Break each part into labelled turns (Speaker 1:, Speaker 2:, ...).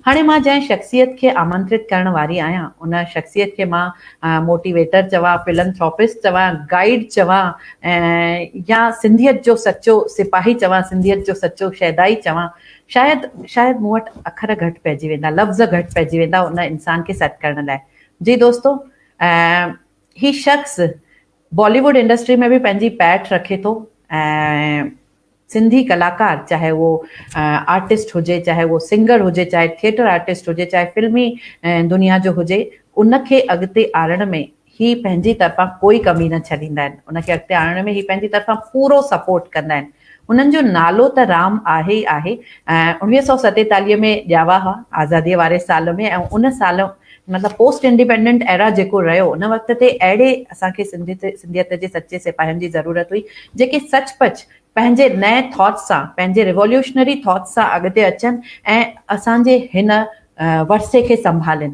Speaker 1: هاڻي مان جنهن شخصيت کي آمنترت ڪرڻ واري آهيان، ان شخصيت کي مان موٽيويٽر چوان، فلنٿراپسٽ چوان، گائيڊ چوان يا سنڌيت جو سچو سپاهي چوان، سنڌيت جو سچو شيدائي چوان، شايد شايد مون وٽ اکر گهٽ پئجي ويندا، لفظ گهٽ پئجي ويندا ان انسان کي سيٽ ڪرڻ لاء. جي دوستو! ۽ هي شخص بالي ووڊ انڊسٽري ۾ به پنهنجي پيٺ رکي ٿو ۽ سنڌي ڪلاڪار چاهي اهو آرٽسٽ هجي چاهي اهو سنگر هجي چاهي ٿيٽر آرٽسٽ هجي چاهي فلمي دنيا جو هجي ان کي اڳتي آڻڻ ۾ هي پنهنجي طرفان ڪوئي ڪمي نه ڇڏيندا آهن ان کي اڳتي آڻڻ ۾ هي پنهنجي طرفان پورو سپورٽ ڪندا آهن. انهن جو نالو ته رام آهي ئي آهي. اوڻويهه سؤ ستيتاليهه ۾ ڄاوا هئا، آزاديء واري سال ۾، ۽ ان سال مطلب پوسٽ انڊيپينڊنٽ ايرا جيڪو رهيو، ان وقت تي اهڙي اسان کي سنڌيت جي سچي سپاهين جي ضرورت هئي، جيڪي سچ پچ پنهنجي نئين ٿاٽس سان، پنهنجي ريووليوشنري ٿاٽس سان اڳتي اچن ۽ اسان جي هن ورثي کي سنڀالين.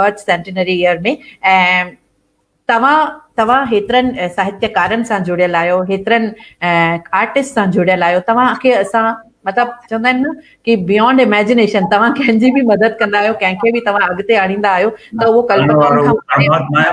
Speaker 1: برٿ سينٽينري ايئر ۾ ۽ توهان توهان هيترن ساهتيڪارن سان جڙيل آهيو هيترن آرٽسٽ سان جڙيل آهيو توهان کي اسان مطلب چوندا آهن نه ڪي بيونڊ اميجنيشن توهان ڪنهن جي به مدد ڪندا آهيو ڪنهن کي به توهان اڳتي آڻيندا آهيو ته اهو ڪلپنا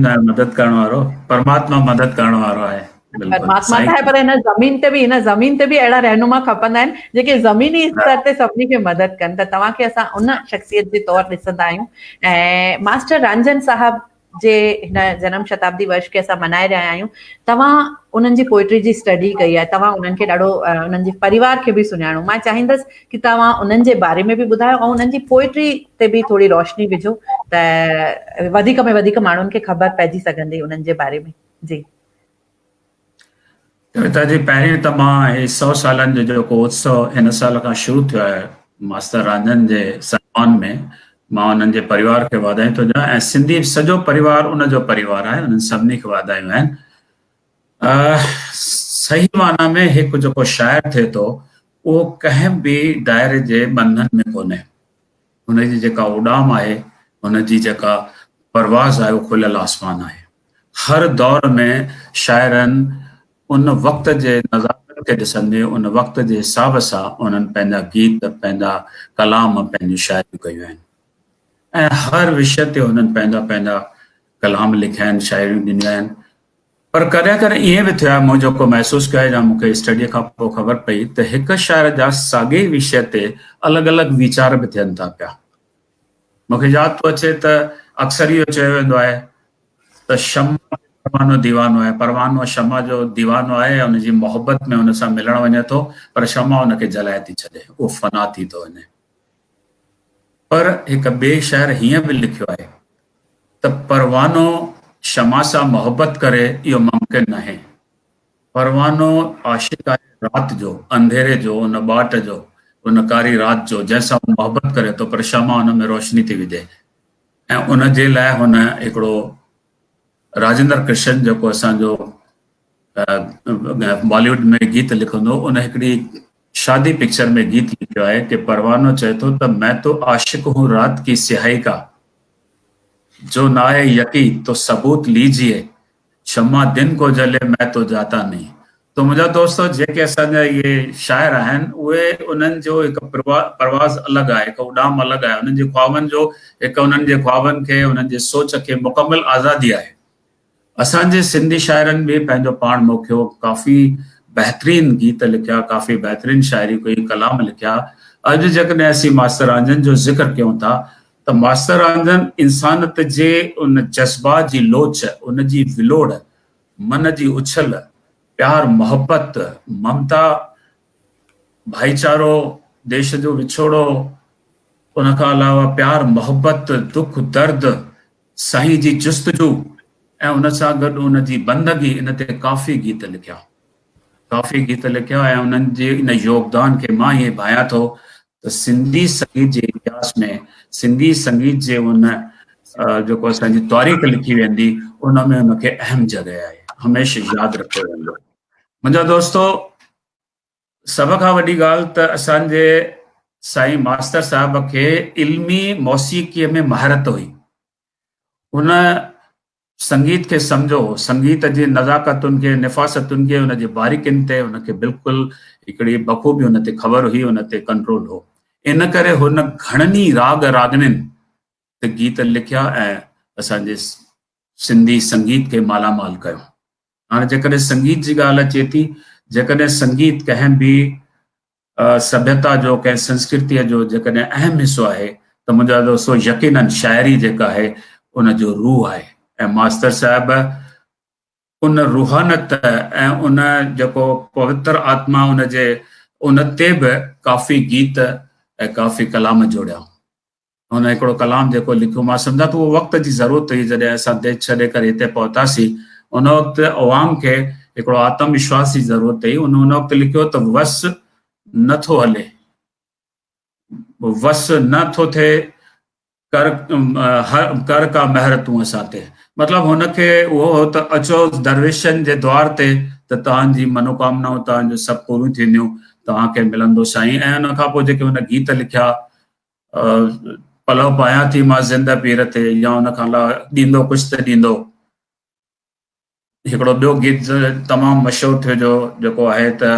Speaker 1: کان
Speaker 2: مدد ڪرڻ وارو پرماتما مدد ڪرڻ وارو آهي پرماتما ته آهي
Speaker 1: پر هن زمين تي به هن زمين تي به اهڙا رهنما کپندا آهن جيڪي زميني استر تي سڀني کي مدد ڪن ته توهان کي اسان ان شخصيت جي طور ڏسندا آهيون ۽ ماسٽر رانجن صاحب جي هن جنم شتابدي ورش کي اسان ملهائي رهيا آهيون توهان انهن جي پوئٽري جي اسٽڊي ڪئي آهي توهان انهن کي ڏاڍو انهن جي پريوار کي به سڃاڻو مان چاهيندس ڪي توهان انهن جي باري ۾ به ٻڌايو ۽ انهن جي پوئٽري تي به ٿوري روشني وجهو ته وڌيڪ ۾ وڌيڪ ماڻهن کي خبر پئجي سگهندي انهن جي باري ۾ جي
Speaker 2: ڪويتا جي پهرين ته مان هي سو سالن جو جيڪو اتسو هن سال کان شروع ٿيو آهي ماستر رانجهن جي سنمان ۾ مان انهن جي پريوار کي واڌايون ٿو ڏيان ۽ سنڌي سڄو پريوار ان جو پريوار آهي انهن سڀني کي واڌايون آهن صحيح معنی ۾ هڪ جيڪو شاعر ٿئي ٿو اهو ڪنهن به دائري جي ٻنڌن ۾ ڪونهي ان جي جيڪا اڏام آهي، ان جي جيڪا پرواز آهي اهو کليل آسمان آهي. هر دور ۾ شاعرن ان وقت جي نزاڪت کي ڏسندي ان وقت جي حساب سان انهن پنهنجا گيت، پنهنجا ڪلام، پنهنجون شاعريون ڪيون آهن ۽ هر وشي تي انهن پنهنجا پنهنجا ڪلام لکيا آهن، شاعريون ڏنيون آهن. پر ڪڏهن ڪڏهن ائين به ٿيو آهي مون جيڪو محسوس ڪيو آهي يا مون کي اسٽڊيء کان پوء خبر پئي ته هڪ شاعر جا ساڳئي ئي وشيه تي الڳ الڳ ويچار به ٿين ٿا پيا. مون کي ياد ٿو اچي ته اڪثر اهو چيو ويندو آهي ته شمع تي پروانو ديوانو آهي، پروانو شمع جو ديوانو آهي ۽ ان جي محبت ۾ ان سان ملڻ وڃي ٿو پر شمع ان کي جلائي ٿي ڇڏي، اهو فنا ٿي ٿو وڃي. پر هڪ ٻئي شاعر هيئن به لکيو آهي ته پروانو شمع سان محبت ڪري اهو ممڪن ناهي. پروانو عاشق آهي رات جو، انڌيري جو، ان ٻاٽ جو، ان ڪاري رات جو جنهن سان هو محبت ڪري ٿو پر شمع ان ۾ روشني ٿي وجهي ۽ ان جي لاء هن هڪڙو راجندر ڪرشن جيڪو اسان جو باليوڊ ۾ گيت لکندو ان هڪڙي شادي پڪچر ۾ گيت لکيو آهي ته پروانو چئي ٿو ته مين تو عاشق هون رات ڪي سياهي ڪا جو نه آهي يقي تو ثبوت ليجيي شمع دن ڪو جلي مين تو جاتا نهين ته منهنجا دوستو جيڪي اسان جا اهي شاعر آهن اهي انهن جو هڪ پرواز الڳ آهي هڪ اڏام الڳ آهي انهن جي خوابن جو هڪ انهن جي خوابن کي انهن جي سوچ کي مڪمل آزادي آهي اسان جي سنڌي شاعرن به پنهنجو پاڻ موکيو، ڪافي بهترين گيت لکيا، ڪافي بهترين شاعري ڪئي، ڪلام لکيا. اڄ جيڪڏهن اسين ماستر رانجهن جو ذڪر ڪيون ٿا ته ماستر رانجهن انسانت جي ان جذبا جي لوچ، ان جي ولوڙ، من جي اڇل، پيار محبت، ممتا، ڀائيچارو، ديش جو وڇوڙو، ان کان علاوه پيار محبت، دک درد، سائين جي جستجو ۽ ان سان گڏ ان جي بندگي ان تي ڪافي گيت لکيا ڪافي گيت لکيا ۽ انهن جي ان يوگدان کي مان ائين ڀانيان ٿو ته سنڌي سنگيت جي اتهاس ۾ سنڌي سنگيت جي ان جيڪو اسان جي تاريخ لکي ويندي ان ۾ ان کي اهم جڳهه آهي هميشه ياد رکيو ويندو منهنجا دوستو سڀ کان وڏي ڳالهه ته اسان جي سائين ماستر صاحب کي علمي موسيقيء ۾ مهارت هئي هن سنگيت کي سمجهو هو سنگيت جي نزاڪتن کي نفاستن کي ان جي باريڪين تي هن کي بلڪل هڪڙي بخوبي هن تي خبر هئي هن تي ڪنٽرول هو ان ڪري هن گهڻن ئي راڳ راڳنين تي گيت لکيا ۽ اسان جي سنڌي سنگيت کي مالا مال ڪيو هاڻي جيڪڏهن سنگيت جي ڳالهه اچي ٿي، جيڪڏهن سنگيت ڪنهن به سڀيتا جو، ڪنهن سنسڪرتيء جو جيڪڏهن اهم حصو آهي ته منهنجو عزيزو سو يقيناً شاعري جيڪا آهي ان جو روح آهي ۽ ماستر صاحب ان روحانت ۽ ان جيڪو پوتر آتما ان جي ان تي به ڪافي گيت ۽ ڪافي ڪلام جوڙيائون. هن هڪڙو ڪلام جيڪو لکيو مان سمجهان ٿو اهو وقت جي ضرورت هئي جڏهن اسان ديس ڇڏي ڪري هتي پهتاسين ان وقت عوام کي هڪڙو آتم وشواس جي ضرورت هئي ان ان وقت لکيو ته وس نه ٿو هلي وس نه ٿو ٿئي ڪر ڪر ڪا مهر تون اسان تي مطلب هن کي اهو هو ته اچو درويشن جي دوار تي ته توهان جي منوڪامنائون توهان جو سڀ پوريون ٿينديون توهان کي ملندو سائين ۽ ان کان پوء جيڪي هن گيت لکيا پلو پايان ٿي مان زنده پير تي يا ان کان لا ڏيندو ڪجھ ته ڏيندو هڪڙو ٻيو گيت تمام مشهور ٿيو جو جيڪو آهي ته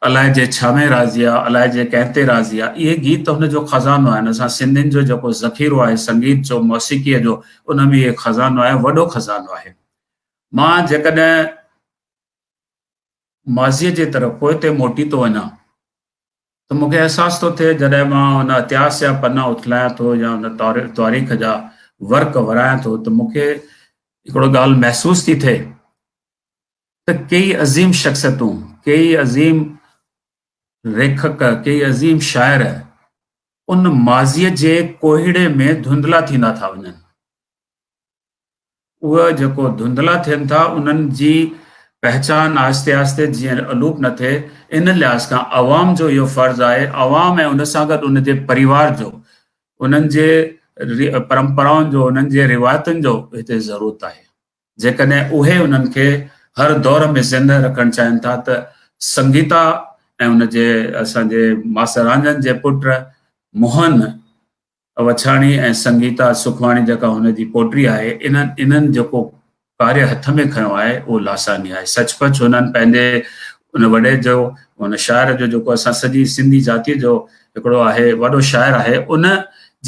Speaker 2: الائي جي ڇا ۾ راضي آ الائي جي ڪنهن تي راضي آ اهي گيت هن جو خزانو آهن اسان سنڌين جو جيڪو ذخيرو آهي سنگيت جو موسيقيء جو ان ۾ اهي خزانو آهي وڏو خزانو آهي مان جيڪڏهن ماضيء جي طرف پوئتي موٽي ٿو وڃان ته مون کي احساس ٿو ٿئي جڏهن مان ان اتهاس جا پنا اٿلايان ٿو يا ان تواريخ جا ورق ورايان ٿو ته مون کي هڪڙو ڳالهه محسوس ٿي ٿئي ته ڪيئي عظيم شخصيتون ڪيئي عظيم ريکڪ ڪيئي عظيم شاعر ان ماضيء جي ڪوهيڙي ۾ ڌنڌلا ٿيندا ٿا وڃن اهي جيڪو ڌنڌلا ٿين ٿا انهن جي پهچان آهستي آهستي جيئن الوپ نه ٿئي ان لحاظ کان عوام جو اهو فرض آهي عوام ۽ ان سان گڏ ان جي پريوار جو انهن جي پرمپرائن جو انهن جي روايتن جو هتي ضرورت آهي جيڪڏهن اهي انهن کي هر دور ۾ زنده رکڻ چاهين ٿا ته سنگيتا ۽ ان جي اسان جي ماستر رانجن جي پٽ موهن وڇاڻي ۽ سنگيتا سکواڻي جيڪا هن جي پوٽي آهي انهن انهن جيڪو ڪاري هٿ ۾ کنيو آهي اهو لاساني آهي سچ پچ هنن پنهنجي ان وڏي جو ان شاعر جو جيڪو اسان سڄي سنڌي ذاتي جو هڪڙو آهي وڏو شاعر آهي ان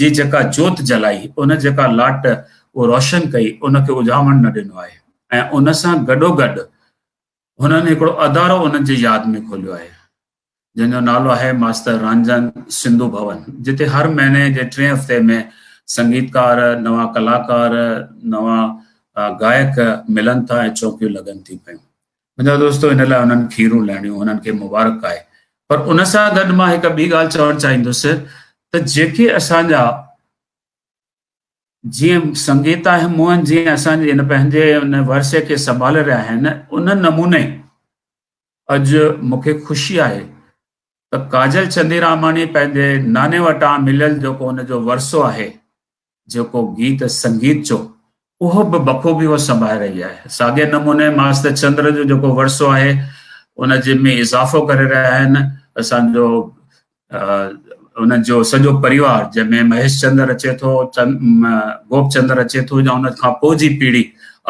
Speaker 2: جي جيڪا جوت جلائي ان جيڪا لاٽ اهو روشن ڪئي ان کي اجهاوڻ نه ڏنو آهي ۽ ان سان گڏو گڏ هنن هڪڙو ادارو انهن جي ياد ۾ کوليو آهي، جنهن جو نالو آهي ماستر رنجن سنڌو ڀون، جتي هر مهيني جي ٽئين هفتي ۾ سنگيتڪار، نوان ڪلاڪار، نوان گائڪ ملن ٿا ۽ چونڪيون لڳن ٿيون پيون. منهنجا دوستو ان لاء هنن کيرون لهڻيون هنن کي مبارڪ آهي. پر ان سان گڏ مان هڪ ٻي ڳالهه چوڻ چاهيندس ته جيڪي اسان جا جيئن سنگيتا ۽ موهن جيئن اسان جي هن پنهنجي ان ورثي کي سنڀالي رهيا آهن ان نموني اڄ مونکي خوشي آهي ته ڪاجل چنديراماڻي پنهنجي ناني وٽان مليل جيڪو ان جو ورثو آهي جيڪو گيت سنگيت جو اهو به بخوبي هوء سنڀائي رهي آهي. ساڳئي نموني ماستر چندر جو جيڪو ورثو آهي ان جي ۾ اضافو ڪري رهيا آهن اسان جو انهن جو سڄو پريوار جنهن ۾ مهيش چندر اچي ٿو گوپ چندر اچي ٿو يا ان کان پوء جي پيڙهي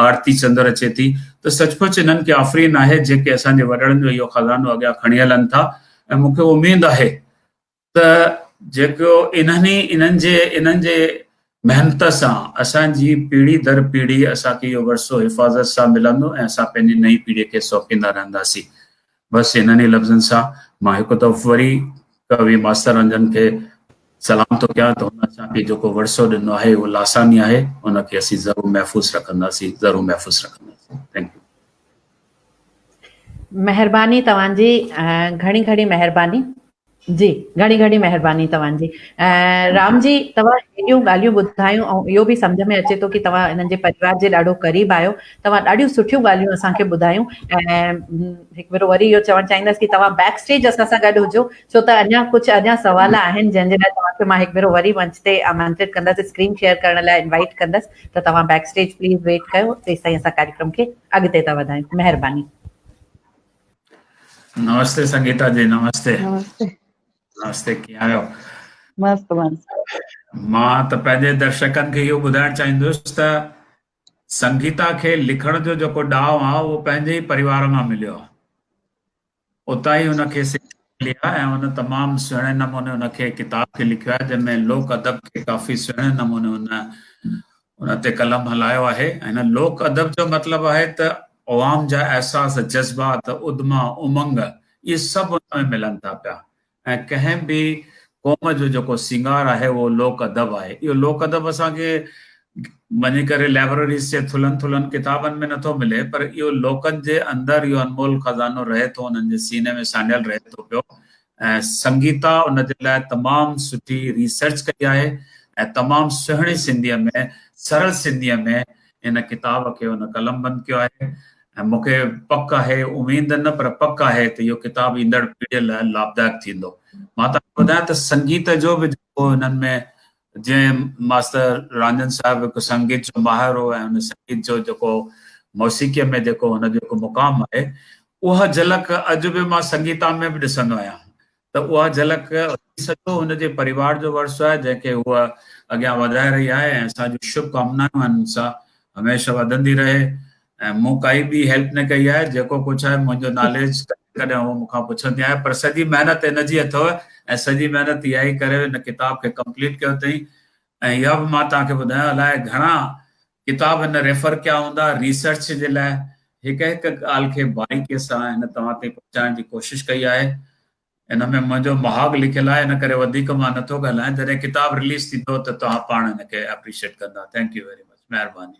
Speaker 2: آرتي چندر اچي ٿي ته سچ پچ انهن کي آفرين آهي جيڪي اسان جي وڏڙن جو اهو خزانو اڳيان کڻي هلن ٿا ۽ مون کي اميد آهي ته جيڪو انهن ئي انهن جي انهن جي محنت سان اسان جي پيڙهي در پيڙهي اسان کي اهو ورثو حفاظت سان ملندو ۽ اسان پنهنجي نئين پيڙهي کي سونپيندا رهنداسين بس انهن ئي لفظن سان مان هڪ دفعو وري ڪوي ماستر رنجن کي سلام ٿو ڪيان ته هن اسان کي جيڪو ورثو ڏنو آهي اهو لاساني آهي ان کي اسين ضرور محفوظ رکنداسين ضرور محفوظ رکنداسين ٿينڪ يو
Speaker 1: مهرباني توهان جي گهڻي گهڻي مهرباني جي گهڻي گهڻي مهرباني توهان جي رام جي توهان هيڏيون ڳالهيون ٻڌايون ۽ اهو به سمجھ ۾ اچي ٿو ڪي توهان هنن جي پريوار جي ڏاڍو قريب آهيو توهان ڏاڍيون سٺيون ڳالهيون اسان کي ٻڌايون ۽ هڪ ڀيرو وري اهو چوڻ چاهيندس ڪي توهان بيڪ اسٽيج اسان سان گڏ هجو ڇو ته اڃا ڪجھ اڃا سوال آهن جن جي لاء توهان کي مان هڪ ڀيرو وري منچ تي آمنترت ڪندس اسڪرين شيئر ڪرڻ لاء انوائيٽ ڪندس ته توهان بيڪ اسٽيج پليز ويٽ ڪيو تيستائين اسان ڪاريڪرم کي اڳتي ٿا وڌايون مهرباني.
Speaker 2: نمستي سنگيتا جي نمستي
Speaker 3: نمستي نمستي
Speaker 2: ڪيئن آهيو مست
Speaker 3: مست مان
Speaker 2: ته پنهنجي درشڪن کي اهو ٻڌائڻ چاهيندس ته سنگيتا کي لکڻ جو جيڪو ڏاهو آهي اهو پنهنجي ئي پريوار مان مليو آهي اتان ئي هن کي سکيا ملي آهي ۽ هن تمام سهڻي نموني ان کي ڪتاب کي لکيو آهي جنهن ۾ لوڪ ادب کي ڪافي سهڻي نموني هن ان تي قلم هلايو آهي ۽ هن لوڪ ادب جو مطلب آهي ته عوام جا احساس جذبات ادما امنگ اهي سڀ ان ۾ ملن ٿا پيا ۽ ڪنهن به قوم جو جيڪو سينگار آهي اهو لوڪ ادب آهي. اهو لوڪ ادب اسان کي وڃي ڪري لئبرريز جي ٿلهن ٿلهن ڪتابن ۾ نٿو ملي پر اهو لوڪن جي اندر اهو انمول خزانو رهي ٿو انهن جي سيني ۾ سانڍيل رهي ٿو پيو ۽ سنگيتا ان جي لاء تمام سٺي ريسرچ ڪئي آهي ۽ تمام سهڻي سنڌيء ۾ سرل سنڌيء ۾ ان ڪتاب کي هن قلمبند ڪيو آهي ۽ مون کي پڪ آهي، اميد نه پر پڪ آهي ته اهو ڪتاب ايندڙ پيڙهيء لاء لاڀدائڪ ٿيندو. مان توهان کي ٻڌايان ته سنگيت جو به جيڪو هنن ۾ جنهن ماستر رانجهن صاحب هڪ سنگيت جو ماهر هو ۽ هن سنگيت جو جيڪو موسيقيء ۾ جيڪو هن جو هڪ مقام آهي، اها جهلڪ اڄ به مان سنگيتا ۾ به ڏسندو آهيان. ته اها جهلڪ ٿي سگهيو هن جي پريوار جو ورثو آهي جنهن کي هوء اڳيان وڌائي رهي آهي ۽ اسان جون شڀ ڪامنائون آهن هن سان هميشه وڌندي رهي ۽ مون ڪائي ٻي هيلپ نه ڪئي آهي جيڪو ڪجهه آهي منهنجو ناليج ڪڏهن ڪڏهن هوء مون کان پڇندي آهي پر سڄي محنت هن جي اٿو ۽ سڄي محنت اها ئي ڪري هن ڪتاب کي ڪمپليٽ ڪيو اٿئي ۽ اها به مان توهان کي ٻڌايان الاء گهڻا ڪتاب هن ريفر ڪيا هوندا ريسرچ جي لاء هڪ هڪ ڳالهه کي باريڪي سان هن توهان تائين پهچائڻ جي ڪوشش ڪئي آهي ان ۾ منهنجو مهاڳ لکيل آهي ان ڪري وڌيڪ مان نٿو ڳالهايان جڏهن ڪتاب رليز ٿيندو ته توهان پاڻ ان کي اپريشيٽ ڪندا ٿينڪ يو ويري مچ مهرباني.